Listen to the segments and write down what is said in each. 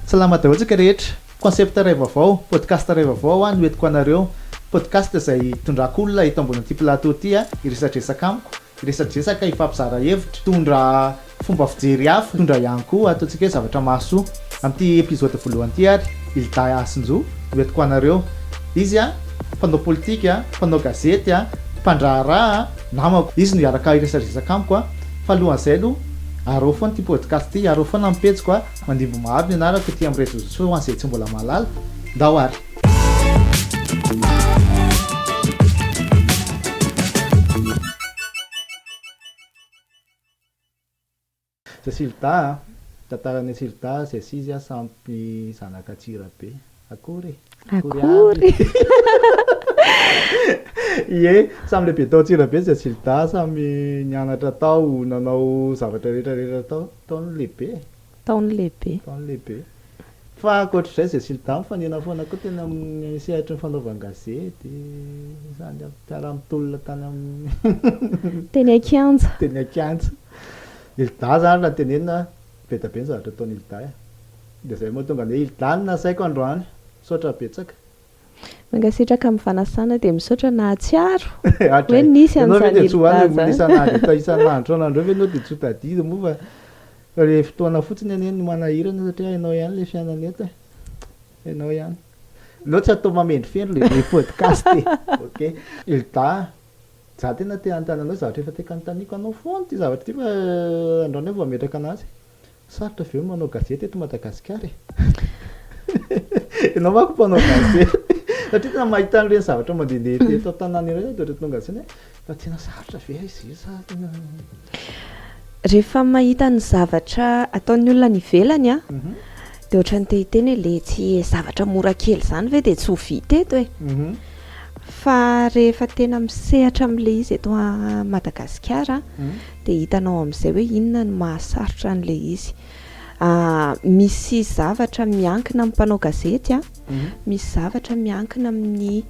Salama daholo tsika rehetra. Concept iray vaovao, podcast iray vaovao aho no entiko anareo. Podcast izay hitondrako olona eto ambony ity plateau ity hiresadresaka amiko, hiresadresaka, hifampizara hevitra, hitondra fomba fijery hafa, hitondra ihany koa ataontsika hoe zavatra mahasoa. Amin'ity episode voalohany ity ary Hilda Hasinjo no entiko anareo. Izy mpanao politika, mpanao gazety, mpandraharaha, namako. Izy no hiaraka hiresadresaka amiko. Fa alohan'izay aloha, araho foana ity podcast ity, araho foana amin'ny pejiko a! Mandimby maro ny anarako ety amin'ny réseaux sociaux ho an'izay tsy mbola mahalala, ndao ary! Cecile Dahy a, tantaran'i Cecile Dahy, Zay sy izy a, sampy zanak'Antsirabe. Akory e! Akory aby! Ie, samy lehibe tao Antsirabe izay Zilda, samy nianatra tao, nanao zavatra rehetra rehetra tao. Tao ny lehibe e! Tao ny lehibe. Tao ny lehibe. Fa ankoatr'izay izay Zilda mifanena foana koa teny amin'ny sehatry ny fanaovan-gazety, sady mpiara-mitolona tany amin'ny. Teny an-kianja. Teny an-kianja. Hilda izany raha tenenina, Be da be ny zavatra ataon'i Hilda eh. Dia zay mahatonga an'i Hilda no nasaiko androany. Misaotra betsaka. Mankasitraka amin'ny fanasana dia misaotra nahatsiaro hoe nisy an'izany Hilda izany. Isan'andro isan'andro eo ve ianao dia tsy ho tadidy moa fa ilay fotoana fotsiny anie no manahirana satria hainao ihany ilay fiainana eto eh. Hainao ihany. Aleo tsy atao mamendrofendro ilay podcast e. Ok. Hilda Za tena te hanontany anao zavatra efa te kanontaniako anao foana ity zavatra ity fa andrano aho vao hametraka anazy. Sarotra ve ny manao gazety eto Madagasikara e? Ianao manko mpanao gazety satria tena mahita an'ireny zavatra mandehandeha eto an-tanàna ireny aho dia ohatra tonga saina hoe fa tena sarotra ve izy io sa tena. Rehefa mahita ny zavatra ataon'ny olona any ivelany an, dia ohatran'ny te hiteny hoe letsy e, zavatra mora kely izany ve dia tsy ho vita eto e? Fa rehefa tena misehatra amin'ilay izy eto Madagasikara an, dia hitanao amin'izay hoe inona no mahasarotra an'ilay izy. Misy zavatra miankina amin'ny mpanao gazety an, misy zavatra miankina amin'ny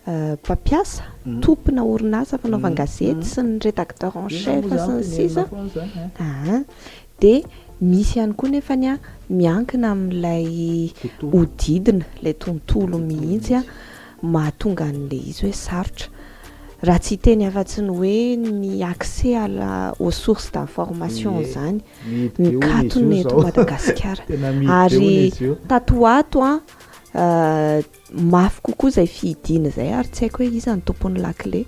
mpampiasa, tompona orinasa fanaovan-gazety sy ny rédacteur en chef sy ny sisa aa. Dia misy ihany koa nefany miankina amin'ilay hodidina, ilay tontolo mihitsy mahatonga an'ilay izy hoe sarotra. Raha tsy hiteny afa-tsy ny hoe ny accès à la, aux sources d'information izany. Mikatona eto Madagasikara. Ary tato ho ato an, Mafy kokoa izay fihidiana izay ary tsy haiko hoe iza ny tompon'ny lakile.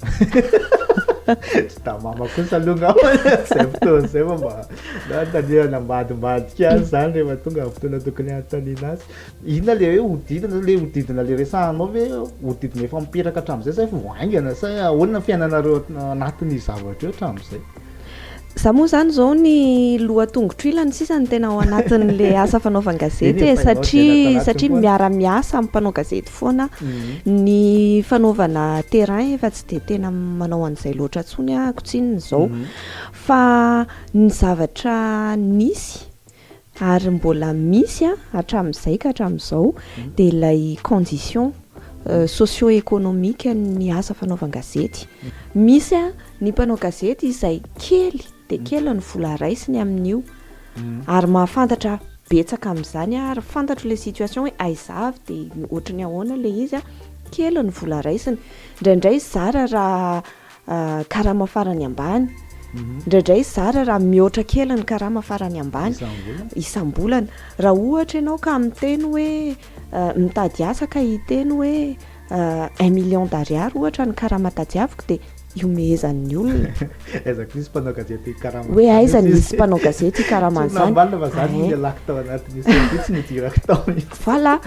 Tsy tamama kosa aloha ngamba izay fotoana izay fa mba na hanontaniana ambadimbadika azy izany rehefa tonga ny fotoana tokony hanontaniana azy. Inona ilay hoe hodidina, ilay hodidina ilay resahanao ve hodidina efa mipetaka hatramin'izay sa efa vao haingana sa ahoana ny fiainanareo anatin'io zavatra io hatramin'izay? Za moa zany zao ny loha tongotro ilany sisa ny tena ao anatin'le asa fanaovan gazety e satria satria miara-miasa amin'ny mpanao gazety foana mhm. ny fanaovana terrain efa tsy de tena manao an'izay loatra ntsony akotsinyny zao mhm. fa ny zavatra nisy ary mbola misy an hatramin'izay ka hatramin'izao dia ilay condition socio economique ny asa fanaovan-gazety misy an ny mpanao gazety izay kely dia kely ny vola raisiny amin'io ary mahafantatra betsaka amin'izany an ary fantatro ilay situation hoe aiza avy dia ohatry ny ahoana ilay izy an kely ny vola raisiny indraindray zara raha karama farany ambany, indraidray zara raha mihoatra kely ny karama farany ambany isam-bolana. Raha ohatra ianao ka miteny hoe mitady asa ka hiteny hoe un million d'ariary ohatra ny karama tadiaviko dia ihomehezan'ny olona. Aiza koa misy mpanao gazety hikarama. Hoe aiza no misy mpanao gazety hikarama an'izany. Tsy nambalina fa zany no ialako tao anatin'ny sortie tsy nidirako tao mihitsy. Voilà,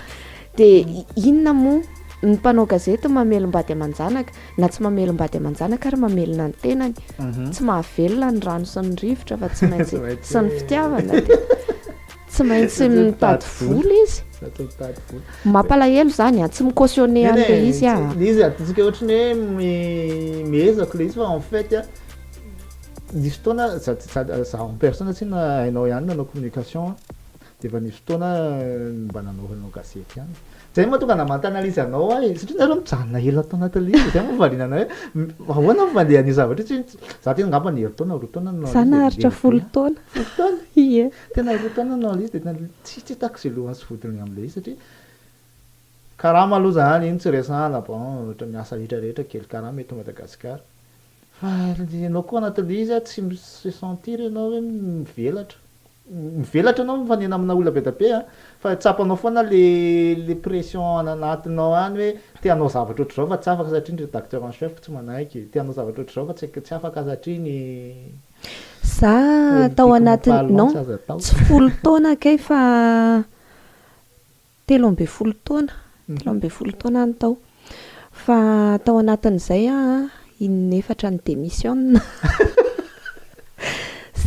dia inona moa ny mpanao gazety mamelom-bady aman-janaka. na tsy mamelom-bady aman-janaka ary mamelona ny tenany, mhm. tsy mahavelona ny rano sy ny rivotra fa tsy maintsy sy ny fitiavana dia tsy maintsy mitady vola izy. Mampalahelo zany a, tsy mi-cautionner an'ilay izy a. Izy atintsika ohatran'ny hoe miezako ilay izy fa en fait a nisy fotoana za en personne tsy na hainao ihany nanao communication Dia efa nisy fotoana ny mba nanoranao gazety ihany. Izay moa tonga namanta analyse anao ahy, satria nareo mijanona ela tao anaty ligne, izay moa valiana anay hoe ahoana ny fandehan' io zavatra io, tsy tsy za teo angamba ny herintaona roa taona no Za naharitra folo taona. Folo taona? Ie. Tena roa taona no analyse dia tena tsy tsy hitako izay lohany sy vodiny amin'ilay izy satria karama aloha izany, iny tsy resahana, bon ohatra miasa rehetra rehetra kely karama eto Madagasikara. Fa ianao koa anatin'ilay izy a, tsy mi-se sentir ianao hoe mivelatra. Mivelatra ianao mifanena amina olona be dia be a, fa tsapanao foana ilay pression any anatinao any hoe te hanao zavatra ohatr'izao fa tsy afaka satria ny rédacteur en chef tsy manaiky, te hanao zavatra ohatr'izao fa tsy tsy afaka satria ny Za tao politique anatin'ny, non, tsy folo taona kay fa Telo ambin'ny folo taona, telo ambin'ny folo taona any tao. Fa tao anatin'izay aho in'efatra ni-demissionne.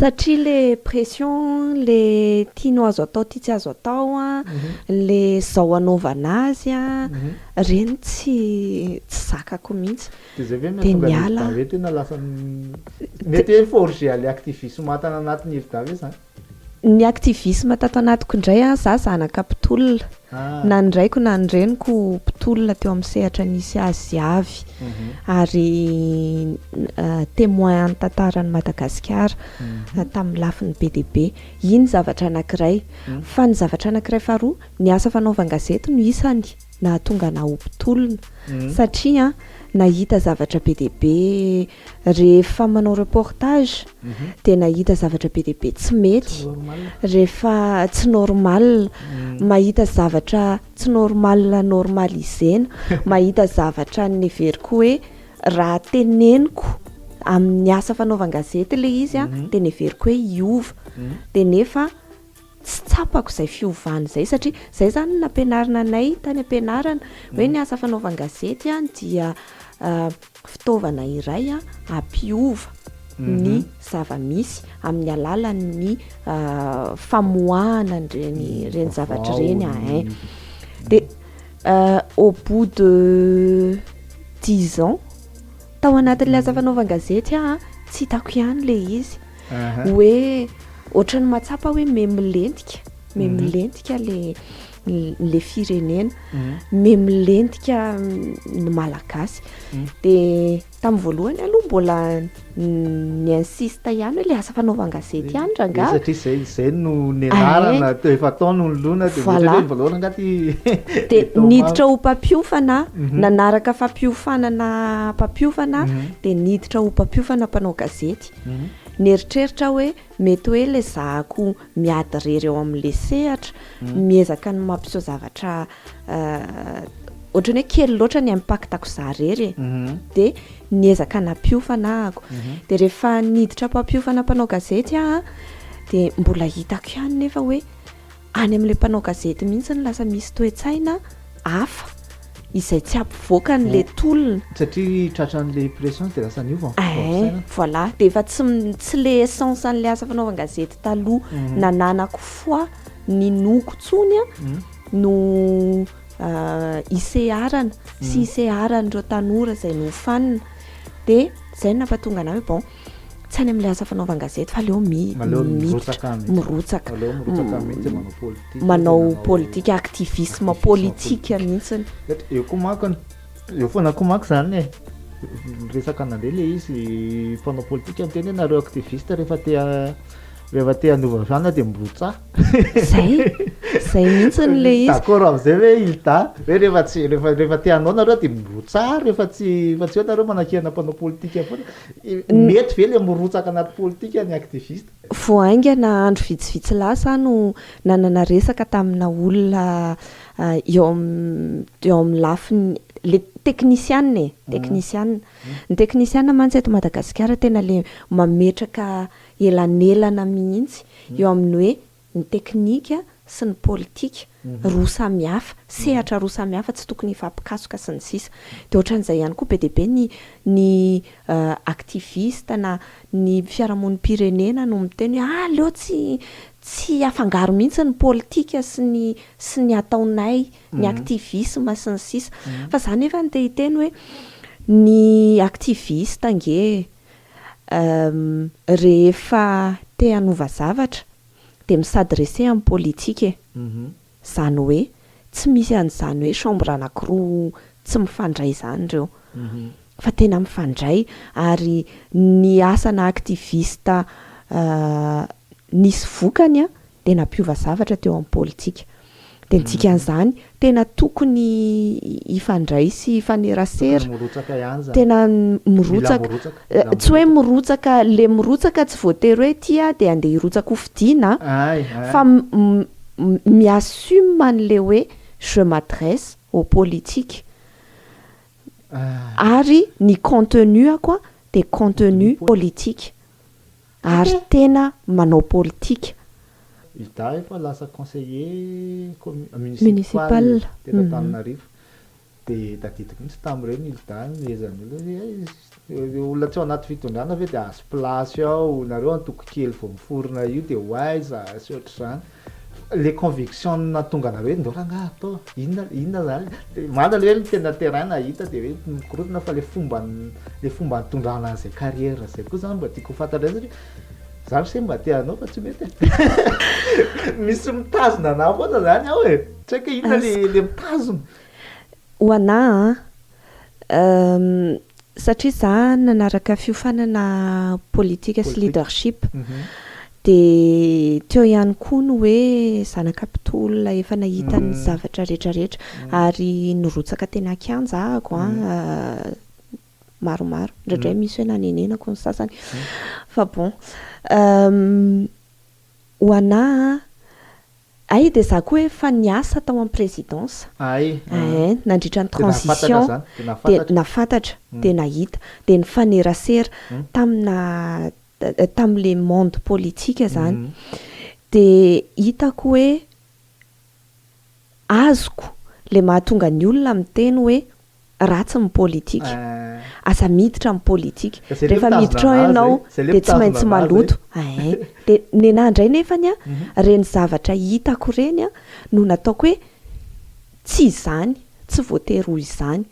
Satria ilay pression, ilay tianao azo atao, tia tsy azo atao, ilay izao anaovana azy, ireny tsy tsy zakako mihitsy. Dia izay ve no mahatonga an'i Hilda hoe tena lasa, mety hoe forger ilay activisme tany anatin'i Hilda ve izany? Ny activisme tato anatiko indray an, za zanaka mpitolona, na ny raiko na ny reniko mpitolona teo amin'ny sehatra nisy azy avy, ary temoin an'ny tantaran'i Madagasikara tamin'ny lafiny be dia be. Iny ny zavatra anankiray. Fa ny zavatra anankiray faharoa, ny asa fanaovan-gazety no isany nahatonga anah ho mpitolona, satria nahita zavatra be dia be Rehefa manao reportage dia nahita zavatra be dia be tsy mety, rehefa tsy normal, mahita zavatra tsy normal normaliser-na, mahita zavatra neveriko hoe raha teneniko amin'ny asa fanaovan-gazety ilay izy dia neveriko hoe hiova dia nefa Tsy tsapako izay fiovana izay satria izay izany no nampianarina anay tany am-pianarana hoe ny asa fanaovan-gazety dia fitaovana iray hampiova ny zava-misy amin'ny alalan'ny famoahana an'ireny ireny zavatra ireny ahin. Dia au bout de dix ans tao anatin'ilay asa fanaovan-gazety aho tsy hitako ihany ilay izy. Hoe ohatran'ny mahatsapa hoe memilentika, memilentika le le firenena, memilentika ny malagasy. Dia tamin'ny voalohany aloha mbola ny insiste ihany hoe le asa fanaovan-gazety ihany rangaha. Satria izay izay no nianarana, efa tao no nolona dia ohatra hoe voalohany angaha ty. Dia niditra ho mpampiofana, nanaraka fampiofanana mpampiofana dia niditra ho mpampiofana mpanao gazety. Nieritreritra aho hoe mety hoe ilay zahako miady irery ao amin'ilay sehatra, miezaka ny mampiseho zavatra ohatran'ny hoe kely loatra ny impact-ko izaho irery e. Dia niezaka nampiofana ahako. Dia rehefa niditra am-pampiofana mpanao gazety aho an, dia mbola hitako ihany nefa hoe. Any amin'ilay mpanao gazety mihitsy no lasa misy toe-tsaina hafa izay tsy hampivoaka an'ilay tolona. Satria tratran'ilay pression dia lasa niova ny fomba fisainana. Voilà, dia efa tsy tsy ilay essence an'ilay asa fanaovan-gazety taloha nananako foi, ninoako intsony no hiseharana sy hiseharan'ireo tanora izay nofanina. Dia izay no nampahatonga anà hoe bon. tsy any amin'ilay asa fanaovan-gazety fa aleo mi- Aleo miditra mirotsaka mihitsy. mirotsaka Aleo mirotsaka mihitsy manao politika. manao manao- politika activisme Activisme politika politique. mihitsiny Eto eo koa manko ny- eo foana koa manko izany e. Miresaka an'le le izy mpanao politika miteny hoe nareo activiste rehefa te ha- rehefa te hanova fiana dia mirotsaha. Zay. Zay mihitsiny le izy. D'accord amin'izay ve Hilda? Hoe rehefa tsy rehefa rehefa te hanao nareo dia mirotsaha rehefa tsy rehefa tsy eo nareo manakihana mpanao politika foana. Mety ve le mirotsaka anaty politika ny activiste? Vao haingana andro vitsivitsy lasa aho no nanana resaka tamina olona eo amin'ny eo amin'ny lafiny le teknisiana e, teknisiana. Ny teknisiana mantsy eto Madagasikara tena le mametraka elanelana mihitsy eo amin'ny hoe ny teknika sy ny politika, roa samy hafa, sehatra roa samy hafa tsy tokony hifampikasoka sy ny sisa. Dia ohatran'izay ihany koa be dia be ny ny activistes na ny fiarahamonim-pirenena no miteny hoe ah aleo tsy tsy afangaro mihitsy ny politika sy ny sy ny ataonay, ny activisme sy ny sisa. Fa za nefany te hiteny hoe ny activistes ange Uhm rehefa te hanova zavatra dia mi-s'adresser amin'ny politika e! Izany hoe tsy misy an'izany hoe chambre anankiroa tsy mifandray izany ireo fa tena mifandray ary ny asana activiste nisy vokany an! dia nampiova zavatra teo amin'ny politika. Dia ny dikan'izany, tena tokony hifandray sy hifanerasera. Tokony mirotsaka ihany izany. Tena mirotsaka. Mila mirotsaka. Tsy hoe mirotsaka, ilay mirotsaka tsy voatery hoe ity aho dia handeha hirotsaka hofidiana an. Fa mi-assume an'ilay hoe je m'adresse au politique. Ary ny contenu-ako dia contenu politique. ary tena manao politika. Izaho efa lasa conseiller municipal teto Antananarivo dia tadidiko mihitsy tamin'ireny Hilda ny nohezan'ny olona hoe ireo olona tsy ao anaty fitondrana ve dia azo place ao nareo antoko kely vao miforona io dia ho aiza sy ohatr'izany. Le conviction nahatonga anareo hoe ndao rangaha atao inona inona zany le manda le hoe ny tena terrain nahita de hoe mikorontana fa le fomban'ny le fomba nitondrana an'zay carrière zay koa zany mba tiako ho fantatra ndray satria za mse mba te hanao fa tsy mety e misy mitazona anah foana zany ao e tsy haiko hoe inona le le mitazona. Ho anah an, Satria izaho nanaraka fiofanana politika sy leadership, dia teo ihany koa ny hoe zanaka mpitolona efa nahita ny zavatra rehetrarehetra, ary nirotsaka teny an-kianja ahako maromaro, indraindray misy hoe nanenenako ny sasany, fa bon. Ho anà a! Ay dia za koa efa niasa tao am présidence. Ay a! Ee, nandritra ny transition dia nafantatra, dia nahita, dia nifanerasera tamina tamin'ilay monde politique zany. Dia hitako hoe azoko le mahatonga ny olona miteny hoe ratsy ny politika. Aza miditra amin'ny politika. Rehefa miditra ao ianao dia tsy maintsy maloto. Ee. Dia nenah indray nefany an, ireny zavatra hitako ireny an, no nataoko hoe tsy izany, tsy voatery ho izany.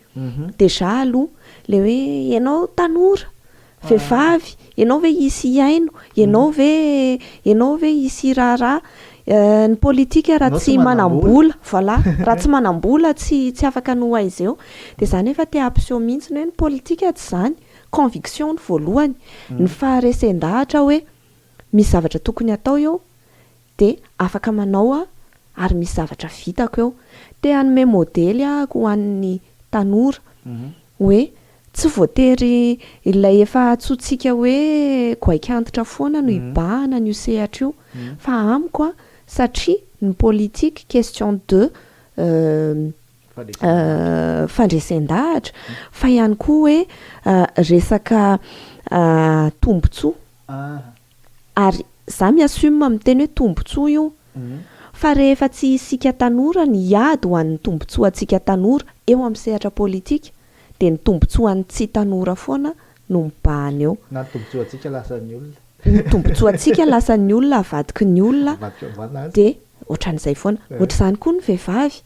Déjà aloha, le hoe ianao tanora, Vehivavy, ianao ve hisy hihaino? Ianao ve ianao ve hisy hiraharaha? Ny politika raha tsy manam-bola, voilà, raha tsy manam-bola tsy tsy afaka ny ho aiza eo. Dia izaho anefa te hampiseho mihitsy ny hoe ny politika tsy izany. Conviction ny voalohany. Ny faharesen-dahatra hoe misy zavatra tokony hatao eo. dia afaka manao aho ary misy zavatra vitako eo. Te hanome modely aho ho an'ny tanora hoe tsy voatery ilay efa antsointsika hoe goaika antitra foana no hibahana an'io sehatra io fa amiko satria ny politique question de fandresen-dahatra fa ihany koa hoe resaka tombotsoa. Ary za mi assume miteny hoe tombotsoa io fa rehefa tsy isika tanora ny hiady ho an'ny tombotsoantsika tanora eo amin'ny sehatra politika dia ny tombotsoan'ny tsy tanora foana no mibahana eo. Na ny tombotsoantsika lasan'ny olona. Ny tombotsoantsika lasan'ny olona avadiky ny olona dia ohatran'izay foana. Ohatr'izany koa ny vehivavy.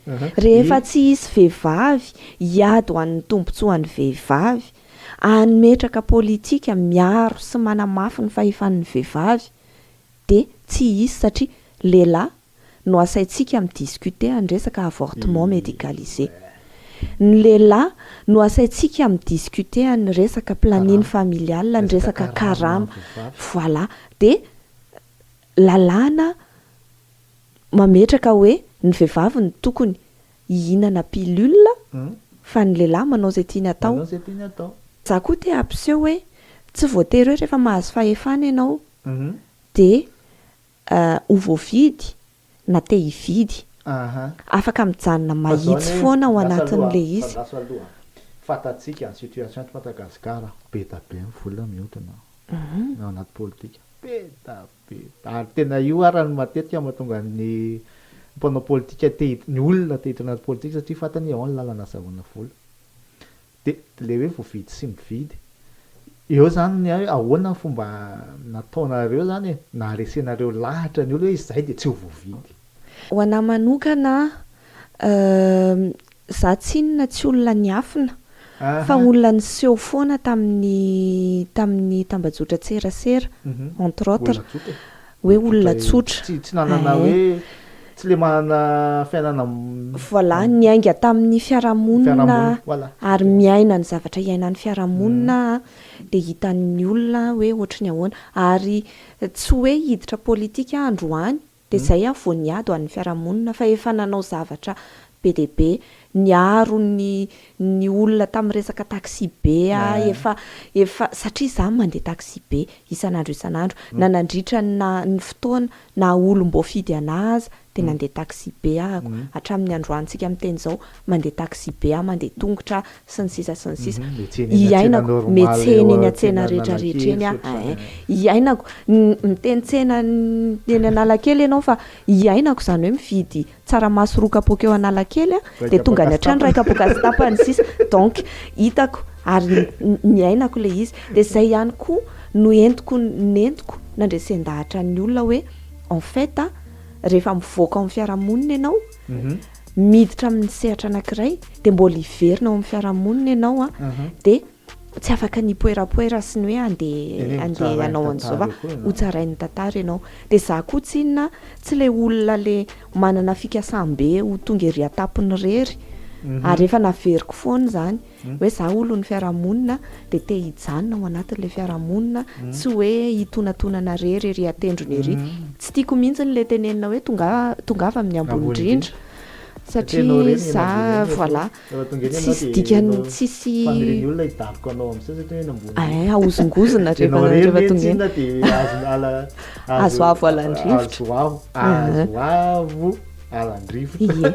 Rehefa tsy hisy vehivavy hiady ho an'ny tombotsoan'ny vehivavy Hametraka politika miaro sy manamafy ny fahefan'ny vehivavy dia tsy hisy satria lehilahy no asaintsika mi discuter an'ny resaka avortement medicalisé. Ny lehilahy no asaintsika mi discuter an'ny resaka planning familial, ny resaka karama. Voilà. Dia lalàna mametraka hoe ny vehivavy no tokony. hihinana pilule fa ny lehilahy manao izay tiany atao. Za koa te hampiseho hoe tsy voatery hoe rehefa mahazo fahefana ianao dia ho voavidy na te hividy. Afaka mijanona mahitsy foana ao anatin'ilay izy. Fantatsika ny situation eto Madagasikara, be da be ny vola miodina ao anaty politika. Dia ary tena io ary no matetika mahatonga ny mpanao politika te hid- ny olona te hiditra anaty politika satria fantany hoe ao ny lalana azahoana vola. Dia ilay hoe voavidy sy mividy. Eo izany ny hoe ahoana ny fomba nataonareo izany e, naharesenareo lahatra ny olona hoe izahay dia tsy ho voavidy. Ho anà manokana, Za tsy inona tsy olona niafina fa olona niseho foana tamin'ny tamin'ny tambajotran-tserasera entre autres hoe olona tsotra tsy tsy nanana hoe tsy le manana fiainana Voilà niainga tamin'ny fiarahamonina ary miaina ny zavatra iainan'ny fiarahamonina dia hitan'ny olona hoe ohatry ny ahoana ary tsy hoe hiditra politika androany Dia izay aho vao niady ho an'ny fiarahamonina fa efa nanao zavatra be dia be. Niaro ny ny olona tamin'ny resaka taxi-be aho, efa efa satria izaho mandeha taxi-be isan'andro isan'andro. Na nandritra ny na ny fotoana naha olom-boafidy an'ahy aza dia nandeha taxi-be aho hatramin'ny androantsika miteny izao. mandeha taxi-be aho, mandeha tongotra aho, sy ny sisa sy ny sisa. Hiainako, mihetsehina eny an-tsena rehetra rehetra eny aho, eh eh, hiainako, miteny tsena eny Analakely ianao fa hiainako izany hoe mividy tsaramaso roa kapoaka eo Analakely aho, dia tonga any an-trano iray kapoaka sy tapany, sy ny sisa. Donc, hitako ary niainako ilay izy. Dia izay ihany koa no entiko, nentiko nandresen-dahatra ny olona hoe en fait, rehefa mivoaka ao amin'ny fiarahamonina ianao, miditra amin'ny sehatra anankiray dia mbola hiverina ao amin'ny fiarahamonina ianao a dia tsy afaka ny poerapoera sy ny hoe andeha andeha ianao an'izao fa ho tsarain'ny tantara ianao dia za koa tsy inona tsy le olona le manana fikasam-be ho tonga ery an-tampony rery ary efa naveriko foana izany Hoe za olon'ny fiarahamonina dia te hijanona ao anatin'ilay fiarahamonina, tsy hoe hitonatonana rery ery an-tendrony ery. Tsy tiako mihitsy ilay tenenina hoe tongava amin'ny ambony indrindra satria za voilà tsisy dikany tsisy eh ahozongozona rehefa rehefa tongava azoavo alan-drivotra. alandrivotra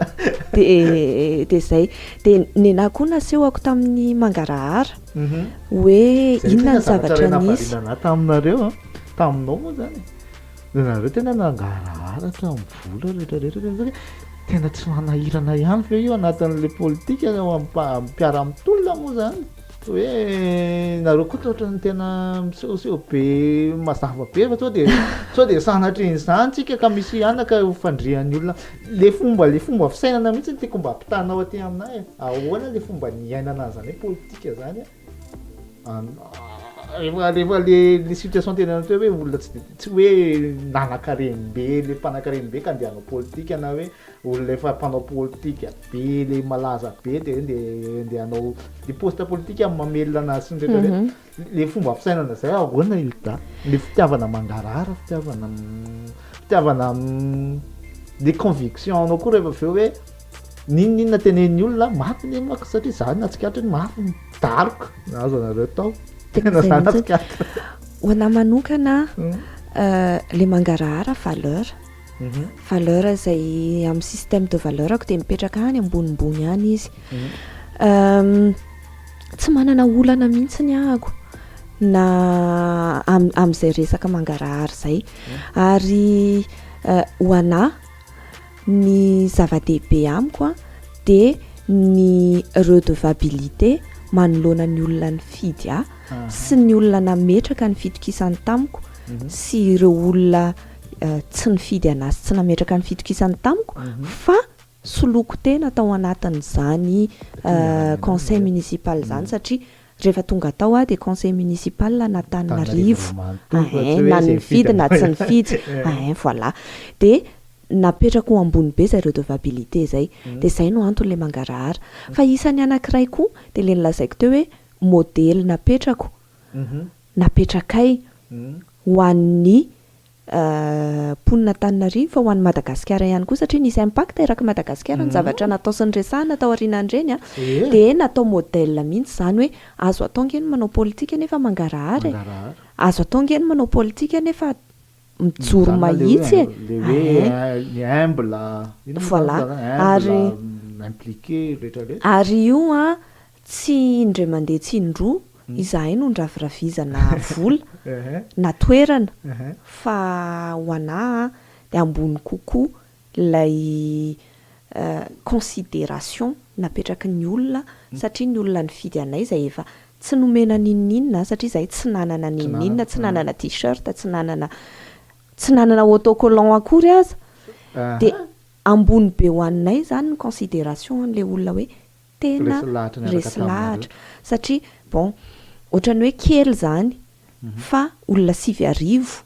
dia dia izay dia nenahy koa nasehoko tamin'ny mangarahara mhm. hoe inona ny zavatra nisy zanahy taminareo a taminao moa zany nareo tena nangarahara tamin'ny vola rehetrarehetra tena tsy manahirana ihany ve io anatin'la politika ao ampiaramitolona moa zany Hoe nareo koa toa ohatran'ny tena misehoseho be mazava be fa sao dia sao dia sanatrian'izany tsika ka misy anaka ho fandrian'ny olona le fomba le fomba fisainana mihitsy ny tiako mba ampitanao aty aminay e. ahoana le fomba niainana an'izany hoe politika zany rehefa rehefa le le situation tena an'ity hoe olona tsy de tsy hoe nanankarem-be le mpanankarem-be ka andeha hanao politika na hoe olona efa mpanao politika be le malaza be de hoe ndeha hanao le poste politika amin'ny mamelona anazy sy ny rehetra rehetra mhm. le fomba fisainana zay ahoana Hilda le fitiavana mangarara fitiavana fitiavana le conviction anao koa rehefa avy eo hoe ninoninona tenen'ny olona maty ny mako satria zany natsikatry ny mafy ny daroka azo anareo tao tena zany natsikatra ho anà manokana hmm. euh, le mangarahara valeur valeur izay amin'ny système de valeur ko dia mipetraka any ambonimbony any izy ehm, tsy manana olana mihitsy ny ahako na amin'izay resaka mangarahary izay ary eh, ho anà ny zava-dehibe amiko a dia ny redevabilité manoloana ny olona ny fidy ahy sy ny olona nametraka ny fitokisany tamiko mhm. sy ireo olona tsy nifidy an'azy tsy nametraka ny fitokisany tamiko fa soloiko tena tao anatin'izany conseil municipal izany satria rehefa tonga tao aho dia conseil municipal an'Antananarivo na nifidy na tsy nifidy voilà dia napetrako ambony be izay redevabilité izay dia izay no antony ilay mangarahara fa isan'ny anankiray koa dia ilay nolazaiko teo hoe modely napetrako napetrakay ho an'ny mponin' Antananarivo fa ho an'i Madagasikara ihany koa satria nisy impact eraky i Madagasikara ny zavatra natao sy niresahana tao aorianan'ireny dia natao modèle mihitsy izany hoe azo atao ange ny manao politika nefa mangarahara e, azo atao ange ny manao politika nefa mijoro mahitsy e, voilà ary ary io an Tsy indray mandeha tsy indroa izahay no niraviravizana vola na toerana fa ho anà dia ambony kokoa ilay consideration napetraky ny olona satria ny olona nifidy anay izay efa tsy nomena n'inon'inona satria izahay tsy nanana n'inon'inona, tsy nanana t-shirt, tsy nanana tsy nanana autocollant akory aza dia ambony be ho anay izany ny consideration an'ilay olona hoe tena resy lahatra satria bon ohatran'ny hoe kely zany fa olona sivy arivo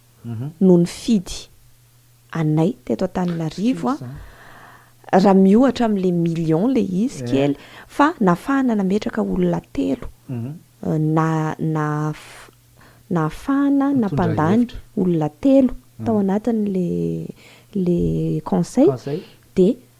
no nifidy anay teto Antananarivo a, raha miohatra amle million le izy kely fa nafahana nametraka olona telo na na nahafahana nampandany olona telo tao anatinle le conseil de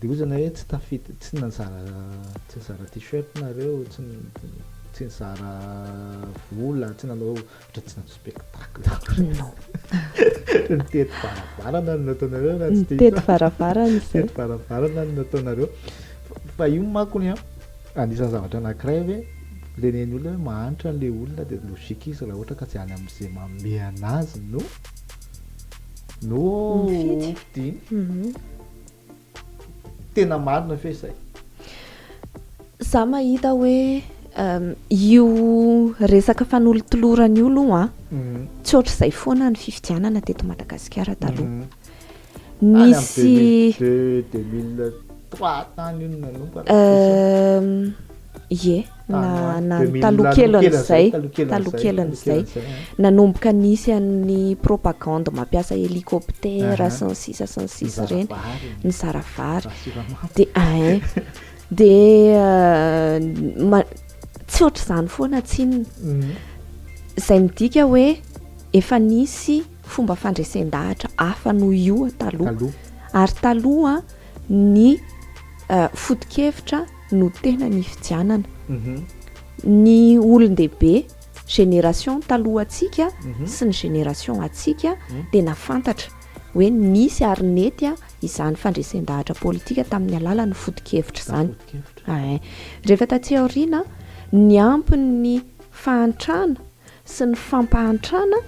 Dia ozy nareo tsy tafita, tsy nanzara, tsy nizara t-shirt nareo, tsy tsy nizara vola, tsy nanao ohatra tsy nanao spectacle akory. Non. Nitety varavarana no nataonareo raha tsy diso. Nitety varavarana izay. Nitety varavarana no nataonareo. Fa io manko ny anisan'ny zavatra anankiray hoe renen'ny olona hoe mahantra ilay olona dia logique izy raha ohatra ka tsy any amin'izay manome anazy no no hofidiany. Tena marina ve izay? Za mahita hoe io resaka fanolotolorana io aloha mhm. tsy ohatr'izay foana ny fifidianana teto Madagasikara taloha. Mhm. Nisy 2003 tany io nanomboka. Ie, na na ny taloha kelin'izay, taloha kelin'izay, nanomboka nisy an'ny propagande mampiasa hélicoptère sy ny sisa sy ny sisa ireny, nizara vary, dia ein, dia ma- tsy hoatr'izany foana tsinona, izay midika hoe efa nisy fomba fandresen-dahatra hafa noho io taloha, ary taloha ny foto-kevitra. no tena nifidianana. Ny olon-dehibe, génération talohantsika sy ny génération antsika dia nafantatra hoe nisy ary nety izany fandresen-dahatra politika tamin'ny alalan'ny foto-kevitra izany. Rehefa taty aoriana, niampy ny fahantrana sy ny fampahantrana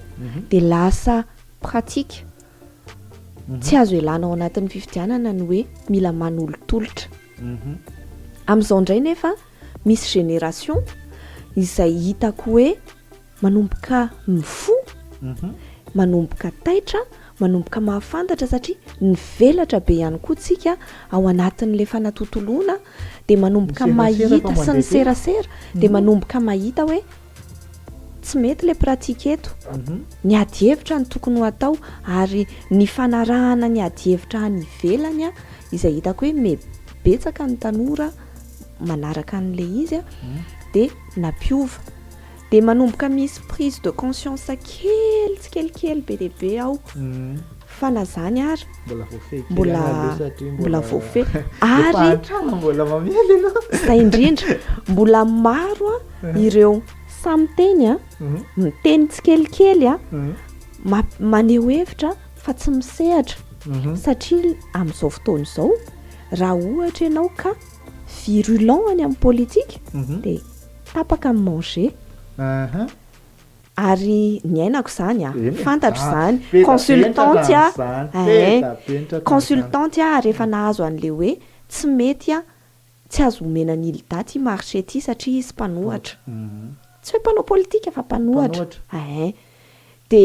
dia lasa pratique, Tsy azo elana ao anatin'ny fifidianana ny hoe mila manolotolotra. Amin'izao indray nefa misy génération izay hitako hoe manomboka mifoha, manomboka taitra, manomboka mahafantatra satria nivelatra be ihany koa tsika ao anatin'ilay fanatontoloana dia manomboka mahita sy ny serasera dia manomboka mahita hoe Tsy mety le pratique eto. Ny ady hevitra no tokony ho atao ary ny fanarahana ny ady hevitra any ivelany izay hitako hoe me betsaka ny tanora manaraka an'le izy de nampiova. De manomboka misy prise de conscience kely tsikelikely be dia be ao. fa na zany ary mbola voafehy mbola mbola voafehy ary mbola mamely aloha zay indrindra mbola maro a mhm. ireo samy teny a mhm. miteny tsikelikely a mhm. maneho hevitra fa tsy misehatra satria amin'izao fotoana izao raha ohatra ianao ka virulent any amin'ny politika dia tapaka amin'ny manger Ary niainako izany a! Fantatro izany! Consultante a! Eeh! Consultante a ary efa nahazo an'le hoe tsy mety a! Tsy azo omena ny ilda ty marché ty satria izy mpanohatra! Tsy hoe mpanao politika fa mpanohatra! Eeh! De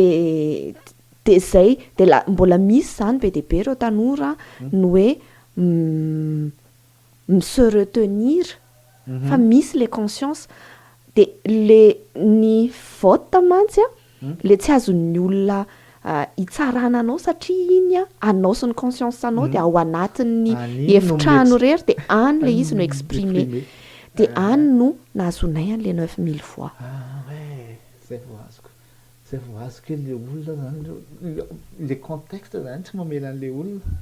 de zay! De la mbola misy izany be dia be ireo tanora no hoe mi se retenir fa misy le conscience de le ny vote mantsy a le tsy azon'ny olona hitsarana anao satria iny a anao sy ny conscience anao de ao anatin'ny efitrano irery de any le izy no exprimer de any no nahazoanay an'le neuf mille voix. Ah ouais! Zay vao azoko. Zay vao azo kely le olona zany, le contexte zany tsy mamela an'le olona.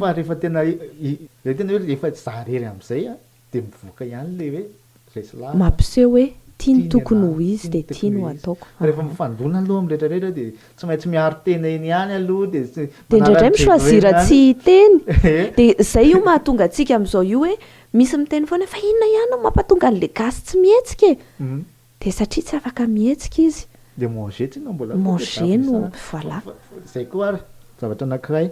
Fa rehefa tena zay tena hoe rehefa za irery am'zay a, de mivoaka ihany le hoe resy lahatra. Mampiseho hoe tia ny tokony ho izy de tia no ataoko. Fa rehefa mifandona aloha am'retraretra de tsy maintsy miaro tena eny ihany aloha de tsy manala ny jejoen-drano. De indraindray mi-choisir tsy hiteny. De zay io mahatonga antsika am'zao io hoe misy miteny foana fa inona ihany no mampatonga an'le gasy tsy mihetsika e? Dia satria tsy afaka mihetsika izy. Dia manger tsy na mbola. Manger no voilà. Izay koa ary zavatra anankiray.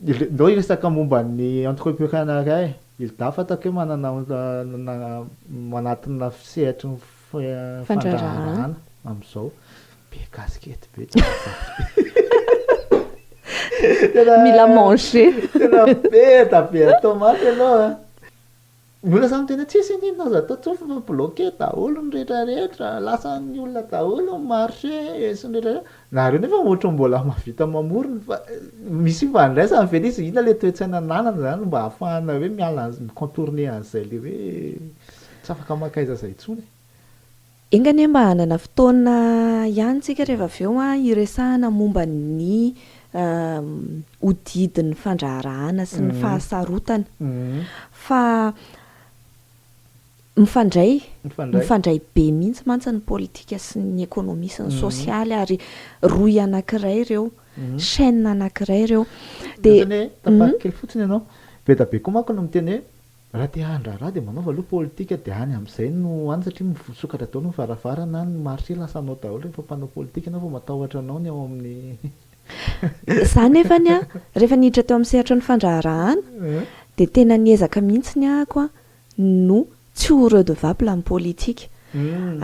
Ndao hiresaka momba ny entrepreneuriat e. Hilda fantako hoe manana manatina sehatry ny fandraharahana amin'izao. Be casquette be tena mila manger. Tena be da be atao mantsy ianao a. Mbola samy tena tsisy anie ny azo atao tsofy fa bloquer daholo ny rehetra rehetra, lasan'ny olona daholo ny marché sy ny rehetra rehetra, nareo nefa ohatry ny mbola mahavita mamorona fa misy ifandraisany ve le izy, inona le toe-tsaina ananana zany mba ahafahana hoe miala mi-contourner an'izay le hoe tsy afaka maka aiza aiza intsony e. Enga anie mba hanana fotoana ihany tsika rehefa avy eo an, hiresahana momba ny hodidin'ny fandraharahana sy ny fahasarotana. Fa mifandray, mifandray be mihitsy mantsy ny politika sy ny ekonomia sy ny sosialy ary rohy anankiray ireo, chaine anankiray ireo. Dia. Tapahako kely fotsiny ianao. Be dia be koa manko no miteny hoe. Raha te handraharaha dia manaova aloha politika dia any amin'izay no any satria misokatra daholo ny varavarana any, ny marché lasa anao daholo rehefa mpanao politika anao vao matahotra anao ny ao amin'ny Za nefany an, rehefa niditra teo amin'ny sehatry ny fandraharahana dia tena niezaka mihitsy ny ahako an no tsy ho redevable amin'ny politika.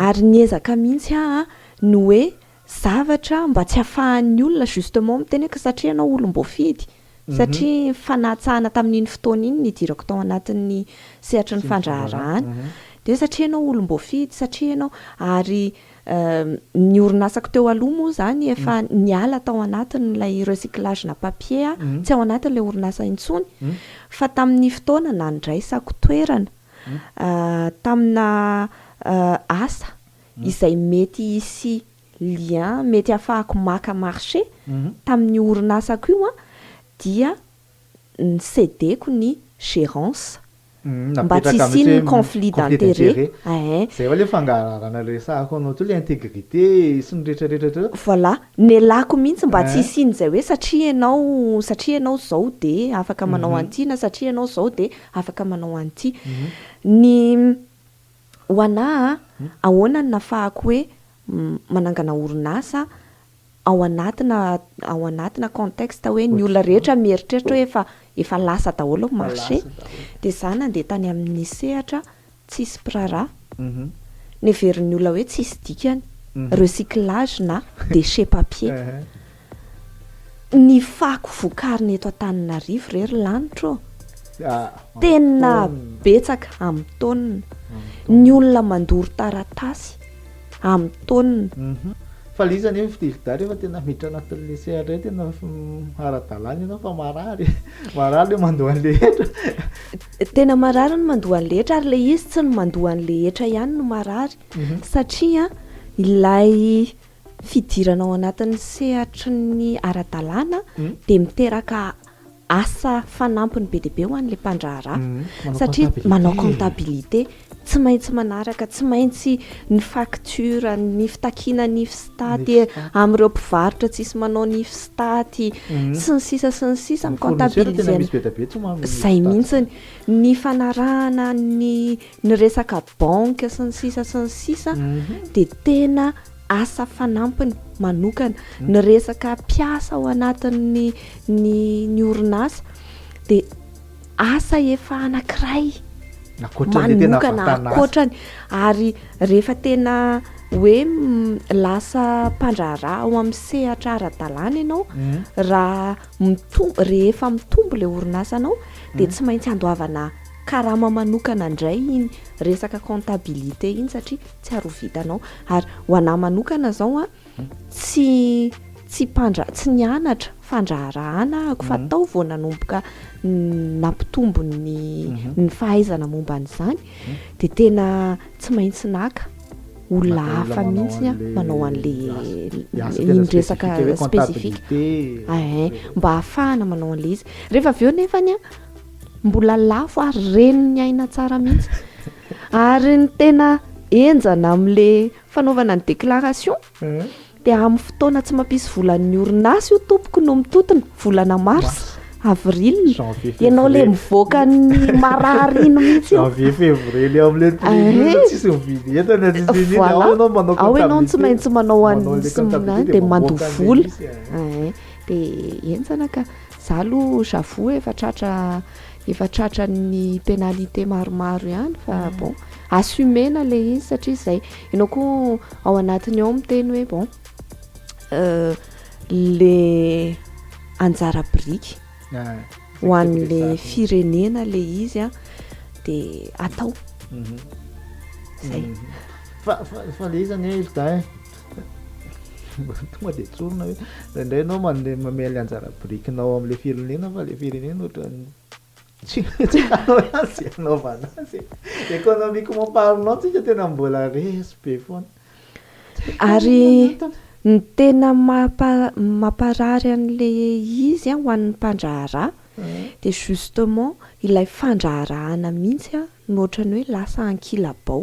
Ary niezaka mihitsy aho an ny hoe zavatra mba tsy afahan'ny olona justement miteny hoe ka satria ianao olom-boafidy. satria fanatsahana tamin'iny fotoana iny nidirako tao anatin'ny sehatry ny fandraharahana, dia satria ianao olom-boafidy, satria ianao, ary ny orinasako teo aloha moa izany efa niala tao anatin'ilay recyclage na papier aho, tsy ao anatin'ilay orinasa intsony, fa tamin'ny fotoana nandraisako toerana tamina asa izay mety hisy lien mety hahafahako maka marché tamin'io orinasako io an, dia ny ceder-ko ny gérance mba tsy Napetraka mihitsy hisian'ny hoe conflit conflit d'intérêt. d'intérêt. Ehe. Izay va ilay fangalarana resahako anao teo, ilay intégrité sy ny rehetrarehetra ohatran'izao. Voilà. Nelako mihitsy mba tsy Ehe. hisian'izay hoe satria ianao, satria ianao izao dia afaka manao Mhm. an'ity na satria ianao izao dia afaka manao an'ity. Ny. Ho anà a, ahoana no nafahako hoe manangana orinasa ao anatina ao anatina contexte hoe ny olona rehetra mieritreritra hoe efa efa lasa daholo ny marché. Dia izaho nandeha tany amin'ny sehatra tsisy mpiraharaha. Ny heverin'ny olona hoe tsisy dikany, recyclage na déchets papier. Ny fako vokarina eto Antananarivo re ry lanitra ô! Tena betsaka amin'ny taonina ny olona mandoro taratasy amin'ny taonina. Fa le izy anie fitilda rehefa tena miditra anatin'le CRE tena ara-dalàna ianao fa marary e! Marary le mandoa an'le hetra. Tena marary ny mandoa an'le hetra ary le izy tsy ny mandoa an'le hetra ihany no marary satria ilay fidirana ao anatin'ny sehatry ny ara-dalàna dia miteraka asa fanampiny be dia be ho an'ilay mpandraharaha satria manao comptabilité, tsy maintsy manaraka, tsy maintsy ny facture, ny fitakiana ny fsitaty amin'ireo mpivarotra tsisy manao ny fsitaty sy ny sisa sy ny sisa, mi-comptabiliser-na izay mihitsiny, ny fanarahana ny Ny resaka banque sy ny sisa sy ny sisa dia tena asa fanampiny manokana. Ny resaka mpiasa ao anatin'ny ny ny orinasa dia asa efa anankiray manokana ankoatrany ary rehefa tena hoe lasa mpandraharaha ao amin'ny sehatra ara-dalàna ianao raha mitombo rehefa mitombo ilay orinasanao dia tsy maintsy andoavana Karama manokana indray iny resaka comptabilité iny satria tsy ary ho vitanao. Ary ho anà manokana izao a, tsy tsy mpandra- tsy nianatra fandraharahàna aho fa tao vao nanomboka n- nampitombo ny ny fahaizana momba an'izany dia tena tsy maintsy naka olona Naka olona hafa manao mihitsy an'ilay- manao an'ilay ny asa tena iny resaka spécifique hoe spécifique. comptabilité. Ehe, mba ahafahana manao an'ilay izy. Rehefa avy eo nefany a, Mbola lafo ary reny ny aina tsara mihitsy. Ary ny tena enjana amin'le fanaovana ny déclaration dia amin'ny fotoana tsy mampisy volan'ny orinasa io tompoko no mitotona, volana mars, avril, ianao le mivoaka ny marary iny mihitsy. Janvier, février le amin'le prime iny tsisy mividy entana tsisy mividy, ao ianao manao comptabilité. Ao ianao tsy maintsy manao an'iny sy ny an'iny dia mandoa vola. Dia enjana ka. Za aloha j'avoue efa tratra efa tratra ny pénalité maromaro ihany fa mm. bon assumer-na le izy satria zay ianao koa ao anatiny ao miteny hoe bon euh, le anjara biriky ah, ho an'le firenena le izy a de atao mhm. zay mhm. fa fa le izy zany e ilda e Tonga dia tsorina hoe indraindray ianao mandeha mamehy ilay anjara birikinao amin'ilay firenena fa ilay firenena ohatran'ny tsy tsy fanao ihany izay anaovana azy e. Économiquement parlant tsika tena mbola resy be foana. Ary ny tena mampa- mamparary an'ilay izy an ho an'ny mpandraharaha dia justement ilay fandraharahana mihitsy no ohatran'ny hoe lasa ankilabao.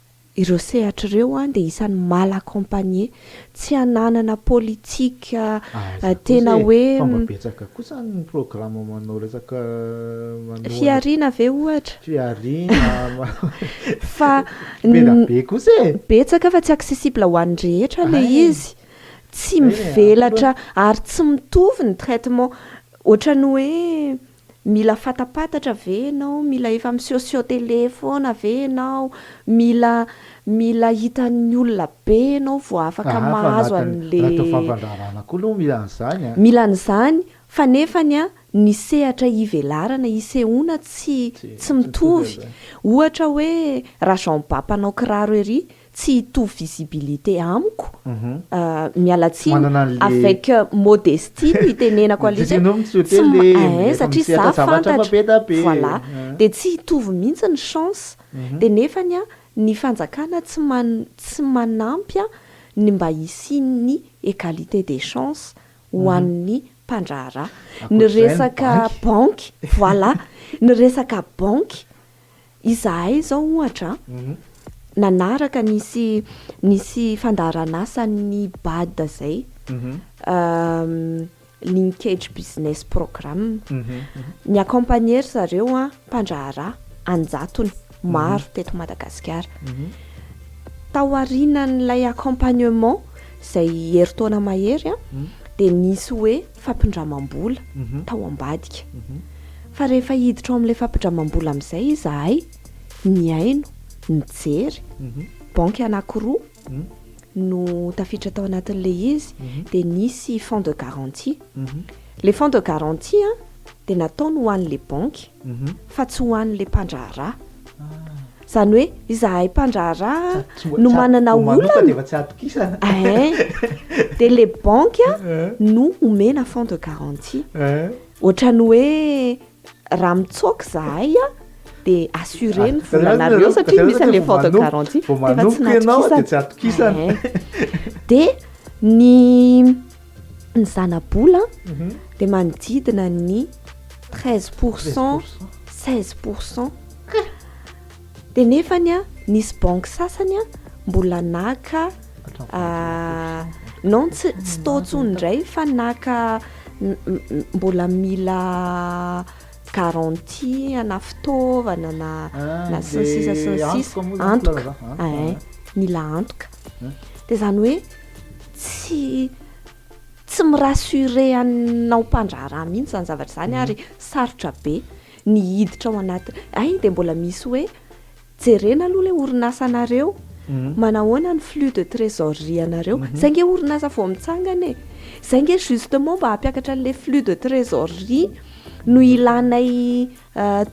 Ireo sehatra ireo dia isan'ny mal accompagner, tsy ananana politika tena hoe. Fa mba betsaka kosa ny programme manao resaka manohana. Fihariana ve ohatra? Fihariana. Fa. Beda be kosa e! Betsaka fa tsy accessible ho an'ny rehetra ilay izy. Tsy mivelatra ary tsy mitovy ny traitement. Ohatran'ny hoe Mila fatapatatra ve ianao? Mila efa misehoseho télé foana ve ianao? Mila mila hitan'ny olona be ianao vao afaka Aha, fa mahazo anatin'ny an'le anatin'ny fampandraharahana koa aloha mila an'izany an! Mila an'izany, fa nefany an, ny sehatra hivelarana, hisehoana tsy Tsy tsy mitovy mitovy. an'izany. Ohatra hoe, raha Jean Ba mpanao kiraro ery, tsy hitovy visibilité amiko miala tsiny avec modestie no itenenako alika tsy mahay satria za fantatra voilà dia tsy hitovy mihitsy ny chance dia nefany an ny fanjakana tsy tsy manampy an ny mba hisian'ny égalité des chances ho an'ny mpandraharaha ny resaka banky voilà ny resaka banky Izahay izao ohatra nanaraka nisy nisy fandaharan'asan'ny Bad izay, Linkage Business Programme. Ni-accompagner ry zareo mpandraharaha an-jatony maro teto Madagasikara. Tao aorianan'ilay accompagnement izay herintaona mahery dia nisy hoe fampindramam-bola tao ambadika. Fa rehefa hiditra ao amin'ilay fampindramam-bola amin'izay izahay, nihaino, nijery, banky anankiroa no tafiditra tao anatin'ilay izy, dia nisy fonds de garantie. Ilay fonds de garantie dia nataony ho an'ilay banky. fa tsy ho an'ilay mpandraharaha. Izany hoe izahay mpandraharaha no manana olana, eeh, dia ilay banky no omena fonds de garantie. Ohatran'ny hoe raha mitsoaka izahay dia assuré ny volanareo satria misy an'ilay fonds de garantie dia efa tsy natokisana, eeh. Dia ny. ny zanabola dia manodidina ny treize pour cent seize pour cent dia nefany a nisy banky sasany a mbola naka ah, non tsy tsy tao tsony indray fa naka mbola mila garantie na fitaovana na ah, na sisasisisa antoka eh, mila antoka Dia izany hoe tsy tsy mi-rassurer anao mpandraharaha mihitsy izany zavatra izany ary sarotra be ny hiditra ao anaty. Hay dia mbola misy hoe jerena aloha ilay orinasanareo, manahoana ny flux de trésorerie anareo. Izay ange orinasa vao mitsangana e. Izay ange justement mba hampiakatra an'ilay flux de trésorerie no ilanay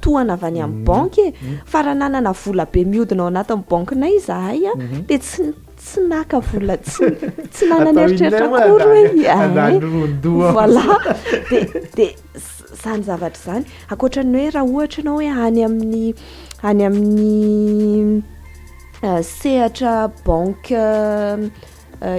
tohana avy any amin'ny banky e fa raha nanana vola be mihodina ao anatin'ny bankinay izahay a dia tsy tsy naka vola tsy tsy nanana eritreritra akory hoe iay voilà dia dia izany zavatra izany ankoatra ny hoe raha ohatra ianao hoe any amin'ny any amin'ny sehatra banque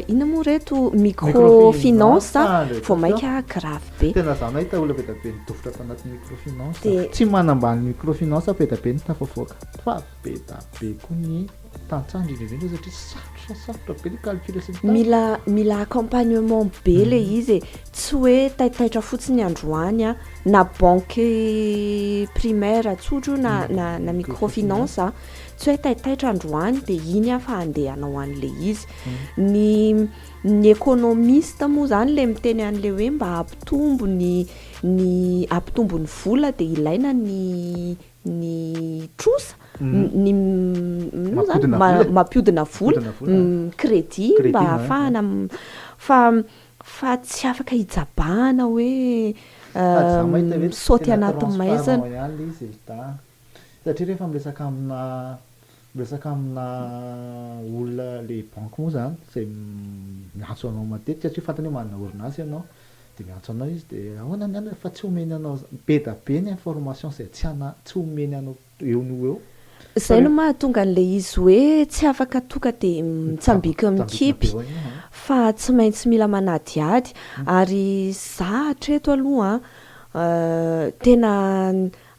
Inona moa reto microfinance vao maika grave be. Tena za mahita olona be dia be nidofitra ato anaty microfinance. Dia- Tsy manambany microfinance be dia be ny tafavoaka. Fa be dia be koa ny tantsaha indrindra indrindra satria sarotra sarotra be ny calcul sy ny tariny. Mila mila accompagnement be le izy e, tsy hoe taitaitra fotsiny androany an, na banque primaire tsotra io na na na microfinance an, tsy hoe taitaitra androany dia iny aho fa handeha hanao an'ilay izy. Ny ny économiste moa izany ilay miteny an'ilay hoe mba hampitombo ny ny hampitombo ny vola dia ilaina ny ny trosa, ny inona moa izany, mampiodina vola, crédit mba hahafahana, fa fa tsy afaka hijabahana hoe misaoty anaty maizina. Satria rehefa miresaka amina miresaka amina olona le banky moa zany izay miantso anao matetika satria fantany hoe manana orinasa ianao dia miantso anao izy dia ahoana ny anona fa tsy omeny anao be da be ny information izay tsy ana- tsy omeny anao eo no eo fa Izay no rehefa mahatonga an'ilay izy hoe tsy afaka tonga dia mitsambika mitsambikina mikipy be eo an. fa tsy maintsy mila manadihady ary za hatreto aloha an, tena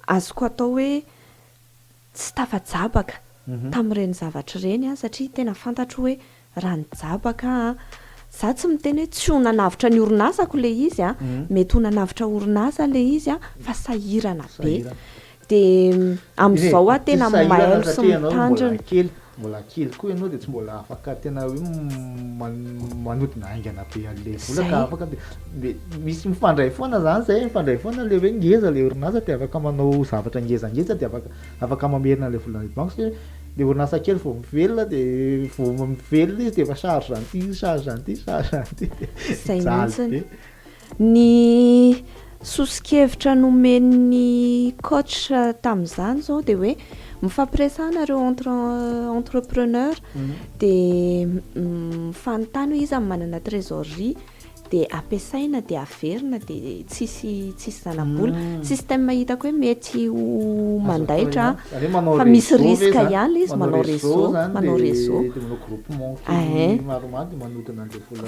azoko atao hoe tsy tafa-jabaka tamin'ireny zavatra ireny aho satria tena fantatro hoe raha nijabaka aho, izaho tsy miteny hoe tsy ho nanavotra ny orinasako ilay izy an, mety ho nanavotra orinasa ilay izy an, fa sahirana be. Dia amin'izao aho tena mailo sy mitandrina. Mbola kely koa ianao dia tsy mbola afaka tena hoe manodina haingana be an'ilay vola ka afaka dia misy mifandray foana izany izay mifandray foana ilay hoe ngeza ilay orinasa dia afaka manao zavatra ngezangeza dia afaka afaka mamerina ilay vola any banky satria ilay orinasa kely vao mivelona dia vao mivelona izy dia efa charge an'ity charge an'ity charge an'ity dia mijaly be. Ny soso-kevitra nomen'ny coach tamin'izany izao dia hoe mifampiresahana ireo entre entrepreneur dia mifanontany hoe iza no manana trésorerie dia ampiasaina dia averina dia tsisy tsisy zana-bola. Système hitako hoe mety ho mandaitra fa misy risque ihany ilay izy manao réseau manao réseau.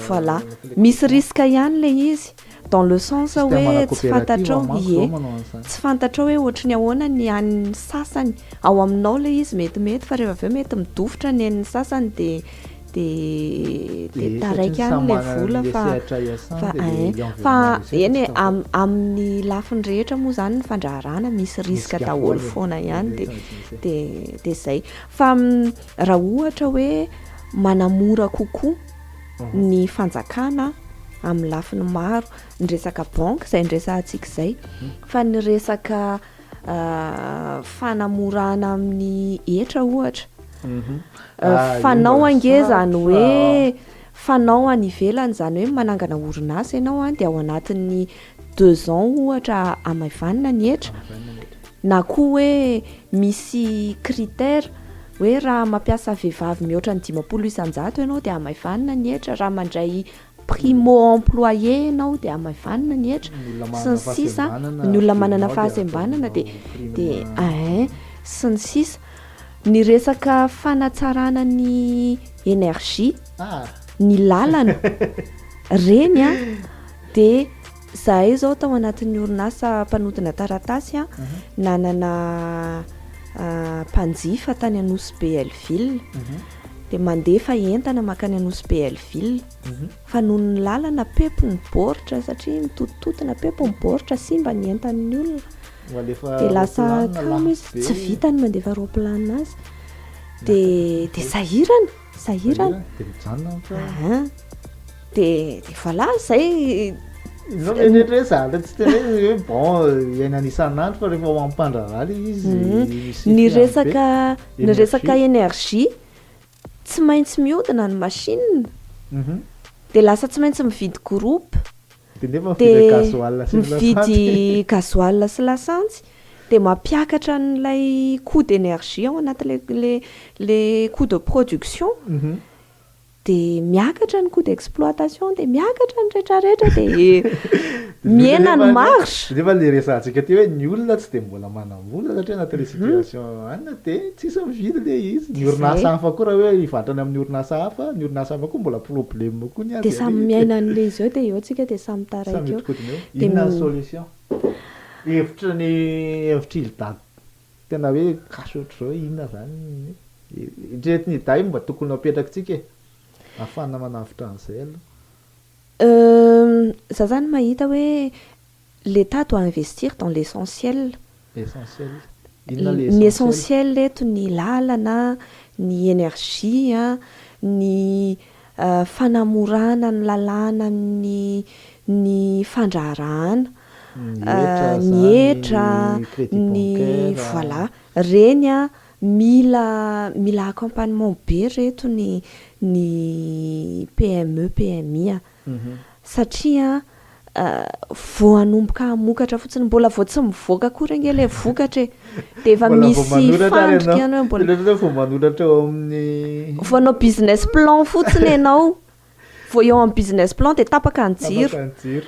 Voilà. Misy risque ihany le izy dans le sens hoe tsy fantatrao ie tsy fantatrao hoe ohatry ny ahoana ny an'ny sasany, ao aminao le izy metimety fa rehefa avy eo mety midofotra ny an'ny sasany de de de taraiky any le vola fa fa ein fa eny e amin'ny lafiny rehetra moa zany ny fandraharahana misy risque daholo foana ihany de de de zay fa raha ohatra hoe manamora kokoa ny fanjakana amin'ny lafiny maro, ny resaka banque izay niresahantsika izay, fa ny resaka fanamorana amin'ny hetra ohatra, mhm. ah, fanao ange izany hoe fanao any ivelany izany hoe manangana orinasa ianao any dia ao anatin'ny deux ans ohatra amaivanina ny hetra na koa hoe misy critère Hoe raha mampiasa vehivavy mihoatra ny dimampolo isan-jato ianao dia hamaivanina ny hetra, raha mandray primo employé ianao dia hamaivanina ny hetra, sy ny sisa Ny olona manana fahasembanana dia dia eeh sy ny sisa Ny resaka fanatsarana ny énergie, ny lalana, reny an dia Zahay izao tao anatin'ny orinasa mpanodina taratasy nanana mpanjifa tany Anosy Beelleville dia mandefa entana mankany Anosy Beelleville fa noho ny lalana pepy ny baoritra satria mitotototona pepy ny baoritra simba ny entan'ny olona dia lasa kamo izy tsy vita ny mandefa roplanina azy dia dia sahirana sahirana dia mijanona ny trano aha dia dia voilà zay no mety hoe zala tsy tena izy hoe bon iainana isan'andro fa rehefa mampandraharaha le izy mhm. ny resaka ny resaka énergie tsy maintsy miodina ny machine mhm. dia lasa tsy maintsy mividy groupe dia mividy gasoil sy lasantsy dia mampiakatra an'ilay coût d'énergie ao anatin'ilay le coût de production dia miakatra ny coût d'exploitation dia miakatra ny rehetra rehetra dia mihena ny marge nefa ilay resahantsika teo hoe ny olona tsy dia mbola manam Vola satria anaty restitution any dia tsisy mividy le izy. Ny orinasa hafa koa raha hoe hivarotra any amin'ny orinasa hafa, ny orinasa hafa koa mbola problème koa ny azy. Dia samy miaina an'le izy eo dia eo tsika dia samy taraiky eo. Samy mihodinkodina eo. Inona ny solution? Hevitry ny hevitr'ily dago tena hoe cash ohatr'izao inona zany ny eritreretin' i dahy mba tokony ho apetrakitsika e! Ahafahana manavotra an'izay aloha. Euh, za zany mahita hoe. L'Etat doit investir dans l'essentiel, ny essentiel eto ny lalana, ny energie, ny fanamorana ny lalàna amin'ny ny fandraharahana, ny hetra, ny voilà, reny mila mila accompagnement be reto ny ny PME, PMI. satria vao hanomboka hamokatra fotsiny, mbola vao tsy mivoaka akory ange ilay vokatra e, dia efa misy fandrika ianao mbola. Ilay hoe vao manoratra eo amin'ny. Vao hanao business plan fotsiny ianao, vao eo amin'ny business plan dia tapaka ny jiro. Tapaka ny jiro.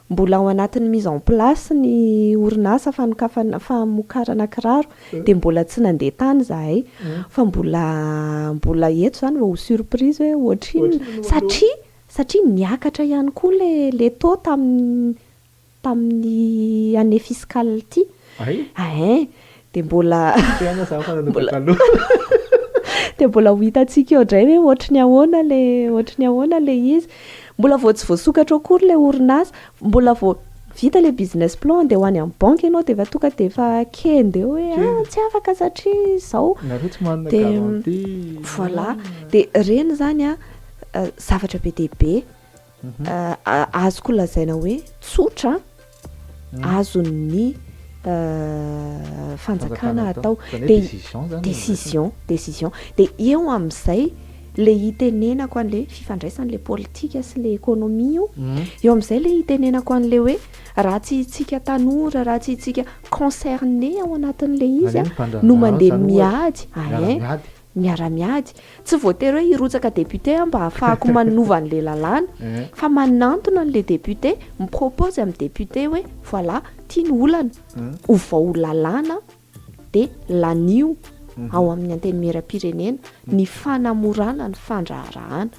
Mbola ao anatin'ny mise en place ny orinasa fanokafana, famokarana kiraro dia mbola tsy nandeha tany izahay fa mbola mbola eto izany vao ho surprise hoe ohatrinona satria satria niakatra ihany koa ilay ilay taux tamin'ny tamin'ny année fiscale ity. Hay? Hein. Dia mbola dia mbola ho hitantsika eo indray hoe ohatry ny ahoana ilay ohatry ny ahoana ilay izy. Mbola vao tsy voasokatra ao akory ilay orinasa. Mbola vao vita ilay business plan handeha ho any amin'ny banky ianao dia efa tonga dia efa kenda eo hoe ah tsy afaka satria izao. Nareo tsy manana garantie. Voilà. Dia ireny izany zavatra be dia be. azoko lazaina hoe tsotra azon'ny fanjakana atao de décision décision de eo amin'izay le hitenenako an'le fifandraisan'le politika sy le économie io mhm. eo amin'izay le hitenenako an'le hoe raha tsy hitsika tanora raha tsy hitsika concerné ao anatin'le izy a no mandeha miady ae miara-miady, tsy voatery hoe hirotsaka député aho mba hahafahako manova an'ilay lalàna, fa manantona an'ilay député, mi-propose amin'ny député hoe voilà, ity no olana, ovao lalàna dia lanio ao amin'ny Antenimierampirenena ny fanamorana ny fandraharahana.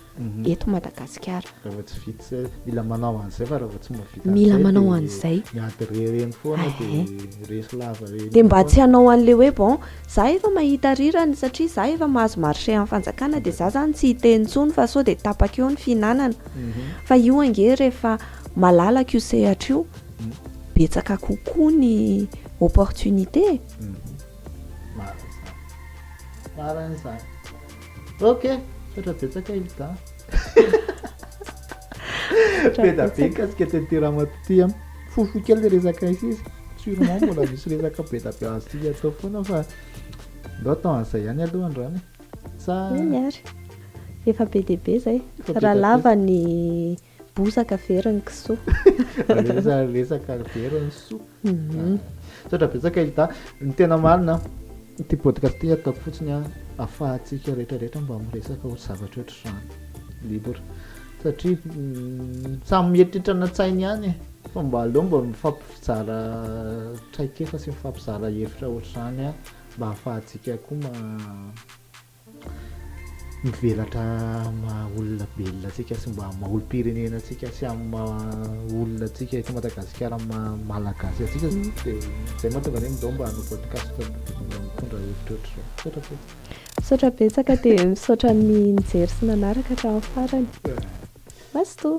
eto Madagasikara. Raha vao tsy vita, mila manao an'izay fa raha vao tsy mahavita an'izay mila manao an'izay. Miady re reny foana dia resy lava reny. Dia mba tsy hanao an'ilay hoe bon, za efa mahita rirany satria za efa mahazo marché amin'ny fanjakana dia za zany tsy hiteny intsony fa sao dia tapaka eo ny fihinanana. Fa io ange rehefa malalaka io sehatra io, betsaka kokoa ny opportunité e. Marina izany. Marina izany. Ok, misaotra betsaka Hilda. Peda be mikasika TT Ramatoa ty an. Fohifohy kely le resaka izy izy. Sûrement mbola misy resaka beda be azontsika atao foana fa ndao atao an'izay ihany aloha androany e. Sa Eny ary. Efa be dia be zay. Efa be Raha dia be. lava ny Bozaka very ny kisoa. Resaka resaka very ny soa. Mhm. Misaotra betsaka Hilda. Ny tena marina ity podcast ity ataoko fotsiny a, afahantsika rehetra rehetra mba miresaka ho zavatra ohatr'izany libre satria mm, samy mieritreritra ny an-tsainy ihany e. fa mba aleo mba mifampizara traikefa sy mifampizara hevitra ohatr'izany a mba afahantsika koa ma- mivelatra amin'ny maha olona belona antsika sy mba maha olom-pirenena antsika sy amin'ny maha olona antsika eto Madagasikara amin'ny maha malagasy antsika dia izay mahatonga anay midao mba hanao podcast mba mitondra hevitra ohatr'izao misaotra betsaka misaotra betsaka dia misaotra ny nijery sy nanaraka hatramin'ny farany mazotoa